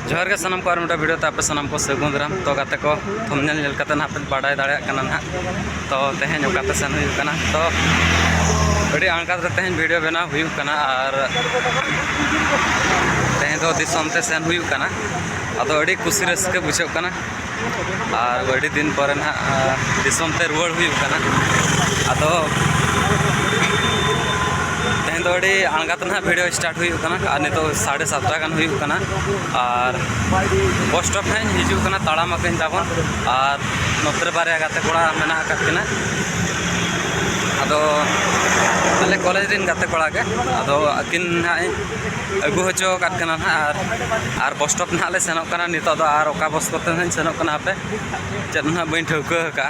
ᱡᱚᱦᱟᱨ ᱜᱮ ᱥᱟᱱᱟᱢ ᱠᱚ ᱟᱨ ᱢᱤᱫᱴᱟᱝ ᱵᱷᱤᱰᱤᱭᱳ ᱛᱮ ᱟᱯᱮ ᱥᱟᱱᱟᱢ ᱠᱚ ᱥᱟᱹᱜᱩᱱ ᱫᱟᱨᱟᱢ ᱛᱚ ᱜᱟᱛᱮ ᱠᱚ ᱛᱷᱚᱢᱱᱮᱞ ᱧᱮᱞ ᱠᱟᱛᱮ ᱱᱟᱦᱟᱜ ᱯᱮ ᱵᱟᱰᱟᱭ ᱫᱟᱲᱮᱭᱟᱜ ᱠᱟᱱᱟ ᱱᱟᱦᱟᱜ ᱛᱚ ᱛᱮᱦᱮᱧ ᱚᱠᱟᱛᱮ ᱥᱮᱱ ᱦᱩᱭᱩᱜ ᱠᱟᱱᱟ ᱛᱚ ᱟᱹᱰᱤ ᱟᱬᱜᱟᱛ ᱨᱮ ᱛᱮᱦᱮᱧ ᱵᱷᱤᱰᱤᱭᱳ ᱵᱮᱱᱟᱣ ᱦᱩᱭᱩᱜ ᱠᱟᱱᱟ ᱟᱨ ᱛᱮᱦᱮᱧ ᱫᱚ ᱫᱤᱥᱚᱢ ᱛᱮ ᱥᱮᱱ ᱦᱩᱭᱩᱜ ᱠᱟᱱᱟ ᱟᱫᱚ ᱟᱹᱰᱤ ᱠᱩᱥᱤ ᱨᱟᱹᱥᱠᱟᱹ ᱵᱩᱡᱷᱟᱹᱜ ᱠᱟᱱᱟ ᱟᱨ ᱟᱹᱰᱤ ᱫᱤᱱ ᱯᱚᱨᱮ ᱱᱟᱦᱟᱜ ᱫᱤᱥᱚᱢ ᱛᱮ ᱨᱩᱣᱟᱹᱲ ᱦᱩᱭᱩᱜ ᱠᱟᱱᱟ ᱟᱫᱚ ᱛᱮᱦᱮᱧ ᱫᱚ ᱟᱹᱰᱤ ᱟᱬᱜᱟᱛ ᱱᱟᱦᱟᱜ ᱵᱷᱤᱰᱤᱭᱳ ᱥᱴᱟᱨᱴ ᱦᱩᱭᱩᱜ ᱠᱟᱱᱟ ᱟᱨ ᱱᱤᱛᱚᱜ ᱥᱟᱲᱮ ᱥᱟᱛᱴᱟ ᱜᱟᱱ ᱦᱩᱭᱩᱜ ᱠᱟᱱᱟ ᱟᱨ ᱵᱚᱥ ᱥᱴᱚᱯ ᱱᱟᱦᱟᱜ ᱤᱧ ᱦᱤᱡᱩᱜ ᱠᱟᱱᱟ ᱛᱟᱲᱟᱢ ᱟᱹᱠᱤᱱ ᱛᱟᱵᱚᱱ ᱟᱨ ᱱᱚᱛᱮ ᱨᱮ ᱵᱟᱨᱭᱟ ᱜᱟᱛᱮ ᱠᱚᱲᱟ ᱢᱮᱱᱟᱜ ᱟᱠᱟᱫ ᱠᱤᱱᱟ ᱟᱫᱚ ᱟᱞᱮ ᱠᱚᱞᱮᱡᱽ ᱨᱮᱱ ᱜᱟᱛᱮ ᱠᱚᱲᱟ ᱜᱮ ᱟᱫᱚ ᱟᱹᱠᱤᱱ ᱱᱟᱦᱟᱜ ᱤᱧ ᱟᱹᱜᱩ ᱦᱚᱪᱚ ᱟᱠᱟᱫ ᱠᱟᱱᱟ ᱱᱟᱦᱟᱜ ᱟᱨ ᱵᱚᱥ ᱥᱴᱚᱯ ᱱᱟᱦᱟᱜ ᱞᱮ ᱥᱮᱱᱚᱜ ᱠᱟᱱᱟ ᱱᱤᱛᱚᱜ ᱫᱚ ᱟᱨ ᱚᱠᱟ ᱵᱚᱥ ᱠᱚᱛᱮ ᱱᱟᱦᱟᱜ ᱤᱧ ᱥᱮᱱᱚᱜ ᱠᱟᱱᱟ ᱦᱟᱯᱮ ᱪᱮᱫ ᱦᱚᱸ ᱱᱟᱦᱟᱜ ᱵᱟᱹᱧ ᱴᱷᱟᱹᱣᱠᱟᱹ ᱟᱠᱟᱫᱼᱟ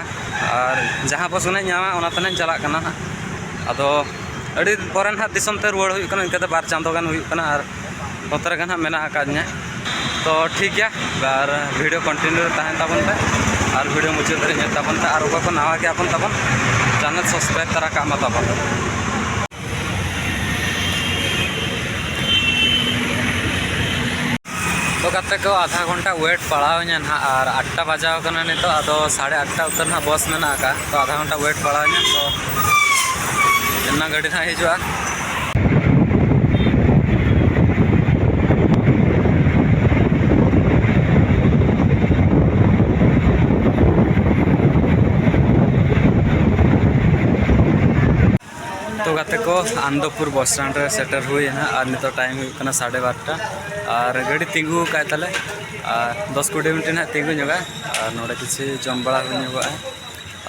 ᱟᱨ ᱡᱟᱦᱟᱸ ᱵᱚᱥ ᱜᱮ ᱱᱟᱦᱟᱜ ᱤᱧ ᱧᱟᱢᱟ ᱚᱱᱟ ᱛᱮ ᱱᱟᱦᱟᱜ ᱤᱧ ᱪᱟᱞᱟᱜ ᱠᱟᱱᱟ ᱱᱟᱦᱟᱜ ᱟᱫᱚ ᱟᱹᱰᱤ ᱫᱤᱱ ᱯᱚᱨᱮ ᱱᱟᱦᱟᱜ ᱫᱤᱥᱚᱢ ᱛᱮ ᱨᱩᱣᱟᱹᱲ ᱦᱩᱭᱩᱜ ᱠᱟᱱᱟ ᱤᱱᱠᱟᱹ ᱛᱮ ᱵᱟᱨ ᱪᱟᱸᱫᱚ ᱜᱟᱱ ᱦᱩᱭᱩᱜ ᱠᱟᱱᱟ ᱟᱨ ᱱᱚᱛᱮ ᱨᱮᱜᱮ ᱱᱟᱦᱟᱜ ᱢᱮᱱᱟᱜ ᱟᱠᱟᱫᱤᱧᱟ ᱛᱚ ᱴᱷᱤᱠ ᱜᱮᱭᱟ ᱟᱨ ᱵᱷᱤᱰᱤᱭᱳ ᱠᱚᱱᱴᱤᱱᱤᱭᱩ ᱨᱮ ᱛᱟᱦᱮᱱ ᱛᱟᱵᱚᱱ ᱯᱮ ᱟᱨ ᱵᱷᱤᱰᱤᱭᱳ ᱢᱩᱪᱟᱹᱫ ᱫᱷᱟᱹᱨᱤᱡ ᱧᱮᱞ ᱛᱟᱵᱚᱱ ᱯᱮ ᱟᱨ ᱚᱠᱚᱭ ᱠᱚ ᱱᱟᱣᱟ ᱜᱮᱭᱟ ᱵᱚᱱ ᱛᱟᱵᱚᱱ ᱪᱮᱱᱮᱞ ᱥᱟᱵᱥᱠᱨᱟᱭᱤᱵᱽ ᱛᱟᱨᱟ ᱠᱟᱜ ᱢᱟ ᱛᱟᱵᱚᱱ ᱟᱫᱚ ᱠᱟᱛᱮ ᱠᱚ ᱟᱫᱷᱟ ᱜᱷᱚᱱᱴᱟ ᱣᱮᱴ ᱯᱟᱲᱟᱣᱤᱧᱟ ᱱᱟᱦᱟᱜ ᱟᱨ ᱟᱴᱴᱟ ᱵᱟᱡᱟᱣ ᱠᱟᱱᱟ ᱱᱤᱛᱚᱜ ᱟᱫᱚ ᱥᱟᱲᱮ ᱟᱴᱴᱟ ᱩᱛᱟᱹᱨ ᱱᱟᱦᱟᱜ ᱵᱚᱥ ᱢᱮᱱᱟᱜ ᱟᱠᱟᱫ ᱛᱚ ᱟᱫᱷᱟ ᱜᱷᱚᱱᱴᱟ ᱣᱮᱴ ᱯᱟᱲᱟᱣᱤᱧᱟ ᱛᱚ ᱚᱱᱟ ᱜᱟᱹᱰᱤ ᱱᱟᱦᱟᱜ ᱦᱤᱡᱩᱜᱼᱟ ᱛᱚ ᱜᱟᱛᱮ ᱠᱚ ᱟᱱᱫᱚᱯᱩᱨ ᱵᱚᱥ ᱥᱴᱮᱱᱰ ᱨᱮ ᱥᱮᱴᱮᱨ ᱦᱩᱭᱮᱱᱟ ᱟᱨ ᱱᱤᱛᱚᱜ ᱴᱟᱭᱤᱢ ᱦᱩᱭᱩᱜ ᱠᱟᱱᱟ ᱥᱟᱲᱮ ᱵᱟᱨᱚᱴᱟ ᱟᱨ ᱜᱟᱹᱰᱤ ᱛᱤᱸᱜᱩ ᱟᱠᱟᱫ ᱛᱟᱞᱮ ᱟᱨ ᱫᱚᱥ ᱠᱩᱲᱤ ᱢᱤᱱᱤᱴ ᱱᱟᱦᱟᱜ ᱛᱤᱸᱜᱩ ᱧᱚᱜᱟ ᱟᱨ ᱱᱚᱰᱮ ᱠᱤᱪᱷᱩ ᱡᱚᱢ ᱵᱟᱲᱟ ᱦᱩᱭ ᱧᱚᱜᱚᱜᱼᱟ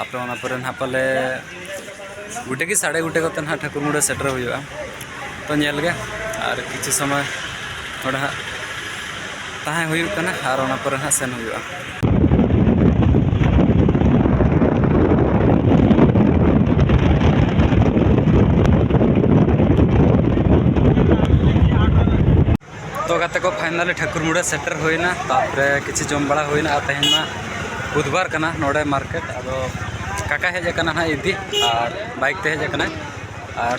ᱟᱯᱮ ᱚᱱᱟ ᱯᱚᱨᱮ ᱱᱟᱦᱟᱜ ᱯᱟᱞᱮ ᱜᱚᱴᱮ ᱜᱮ ᱥᱟᱲᱮ ᱜᱚᱴᱮ ᱠᱚᱛᱮ ᱱᱟᱦᱟᱜ ᱴᱷᱟᱹᱠᱩᱨ ᱢᱩᱲᱟᱹ ᱥᱮᱴᱮᱨ ᱦᱩᱭᱩᱜᱼᱟ ᱛᱚ ᱧᱮᱞ ᱜᱮ ᱟᱨ ᱠᱤᱪᱷᱩ ᱥᱚᱢᱚᱭ ᱱᱚᱰᱮ ᱦᱟᱸᱜ ᱛᱟᱦᱮᱸ ᱦᱩᱭᱩᱜ ᱠᱟᱱᱟ ᱟᱨ ᱚᱱᱟ ᱯᱚᱨᱮ ᱱᱟᱦᱟᱜ ᱥᱮᱱ ᱦᱩᱭᱩᱜᱼᱟ ᱛᱚ ᱜᱟᱛᱮ ᱠᱚ ᱯᱷᱟᱭᱱᱟᱞᱤ ᱴᱷᱟᱹᱠᱩᱨ ᱢᱩᱲᱟᱹ ᱥᱮᱴᱮᱨ ᱦᱩᱭᱱᱟ ᱛᱟᱯᱚᱨᱮ ᱠᱤᱪᱷᱩ ᱡᱚᱢ ᱵᱟᱲᱟ ᱦᱩᱭᱱᱟ ᱟᱨ ᱛᱮᱦᱮᱧ ᱢᱟ ᱵᱩᱫᱷᱵᱟᱨ ᱠᱟᱱᱟ ᱱᱚᱰᱮ ᱢᱟᱨᱠᱮᱴ ᱟᱫᱚ ᱠᱟᱠᱟ ᱦᱮᱡ ᱟᱠᱟᱱᱟ ᱦᱟᱸᱜ ᱤᱫᱤ ᱟᱨ ᱵᱟᱭᱤᱠ ᱛᱮ ᱦᱮᱡ ᱟᱠᱟᱱᱟᱭ ᱟᱨ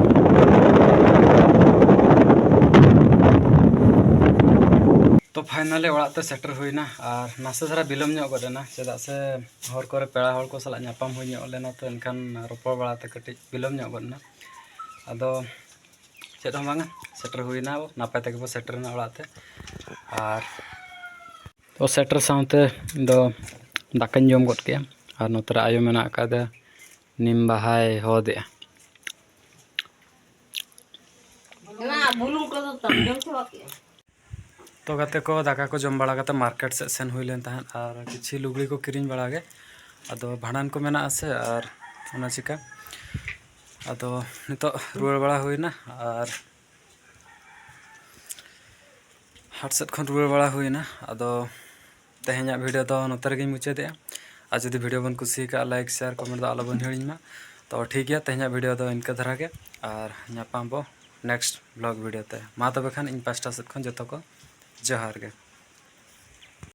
ᱛᱚ ᱯᱷᱟᱭᱱᱟᱞᱤ ᱚᱲᱟᱜ ᱛᱮ ᱥᱮᱴᱮᱨ ᱦᱩᱭᱱᱟ ᱟᱨ ᱱᱟᱥᱮ ᱫᱷᱟᱨᱟ ᱵᱤᱞᱚᱢ ᱧᱚᱜ ᱜᱚᱫ ᱮᱱᱟ ᱪᱮᱫᱟᱜ ᱥᱮ ᱦᱚᱨ ᱠᱚᱨᱮ ᱯᱮᱲᱟ ᱦᱚᱲ ᱠᱚ ᱥᱟᱞᱟᱜ ᱧᱟᱯᱟᱢ ᱦᱩᱭ ᱧᱚᱜ ᱞᱮᱱᱟ ᱛᱚ ᱮᱱᱠᱷᱟᱱ ᱨᱚᱯᱚᱲ ᱵᱟᱲᱟ ᱛᱮ ᱠᱟᱹᱴᱤᱡ ᱵᱤᱞᱚᱢ ᱧᱚᱜ ᱜᱚᱫ ᱮᱱᱟ ᱟᱫᱚ ᱪᱮᱫ ᱦᱚᱸ ᱵᱟᱝᱟ ᱥᱮᱴᱮᱨ ᱦᱩᱭᱱᱟ ᱱᱟᱯᱟᱭ ᱛᱮᱜᱮ ᱵᱚ ᱥᱮᱴᱮᱨᱮᱱᱟ ᱚᱲᱟᱜ ᱛᱮ ᱟᱨ ᱛᱚ ᱥᱮᱴᱮᱨ ᱥᱟᱶᱛᱮ ᱤᱧᱫᱚ ᱫᱟᱠᱟᱧ ᱡᱚᱢ ᱜᱚᱫ ᱠᱮᱫᱼᱟ ᱟᱨ ᱱᱚᱛᱮᱨᱮ ᱟᱭᱳ ᱢᱮᱱᱟᱜ ᱟᱠᱟᱫᱮᱭᱟ ᱱᱤᱢ ᱵᱟᱦᱟᱭ ᱦᱚᱫᱮᱜᱼᱟ ᱛᱚ ᱜᱟᱛᱮ ᱠᱚ ᱫᱟᱠᱟ ᱠᱚ ᱡᱚᱢ ᱵᱟᱲᱟ ᱠᱟᱛᱮ ᱢᱟᱨᱠᱮᱴ ᱥᱮᱫ ᱥᱮᱱ ᱦᱩᱭ ᱞᱮᱱ ᱛᱟᱦᱮᱸᱫ ᱟᱨ ᱠᱤᱪᱷᱩ ᱞᱩᱜᱽᱲᱤ ᱠᱚ ᱠᱤᱨᱤᱧ ᱵᱟᱲᱟ ᱜᱮ ᱟᱫᱚ ᱵᱷᱟᱸᱰᱟᱱ ᱠᱚ ᱢᱮᱱᱟᱜᱼᱟ ᱥᱮ ᱟᱨ ᱚᱱᱟ ᱪᱤᱠᱟ ᱟᱫᱚ ᱱᱤᱛᱚᱜ ᱨᱩᱣᱟᱹᱲ ᱵᱟᱲᱟ ᱦᱩᱭᱱᱟ ᱟᱨ ᱦᱟᱴ ᱥᱮᱫ ᱠᱷᱚᱱ ᱨᱩᱣᱟᱹᱲ ᱵᱟᱲᱟ ᱦᱩᱭᱱᱟ ᱟᱫᱚ ᱛᱮᱦᱮᱧᱟᱜ ᱵᱷᱤᱰᱤᱭᱳ ᱫᱚ ᱱᱚᱛᱮ ᱨᱮᱜᱮᱧ ᱢᱩᱪᱟᱹᱫᱮᱜᱼᱟ ᱟᱨ ᱡᱩᱫᱤ ᱵᱷᱤᱰᱤᱭᱳ ᱵᱚᱱ ᱠᱩᱥᱤ ᱠᱟᱜᱼᱟ ᱞᱟᱭᱤᱠ ᱥᱮᱭᱟᱨ ᱠᱚᱢᱮᱱᱴ ᱫᱚ ᱟᱞᱚᱵᱚᱱ ᱦᱤᱲᱤᱧ ᱢᱟ ᱛᱚ ᱴᱷᱤᱠ ᱜᱮᱭᱟ ᱛᱮᱦᱮᱧᱟᱜ ᱵᱷᱤᱰᱤᱭᱳ ᱫᱚ ᱤᱱᱠᱟᱹ ᱫᱷᱟᱨᱟ ᱜᱮ ᱟᱨ ᱧᱟᱯᱟᱢ ᱵᱚ ᱱᱮᱠᱥᱴ ᱵᱞᱚᱜ ᱵᱷᱤᱰᱤᱭᱳ ᱛᱮ ᱢᱟ ᱛᱚᱵᱮ ᱠᱷᱟᱱ ᱤᱧ ᱯᱟᱥᱴᱟ ᱥᱮᱫ ᱠᱷᱚᱱ ᱡᱚᱛᱚ ᱠᱚ ᱡᱚᱦᱟᱨ ᱜᱮ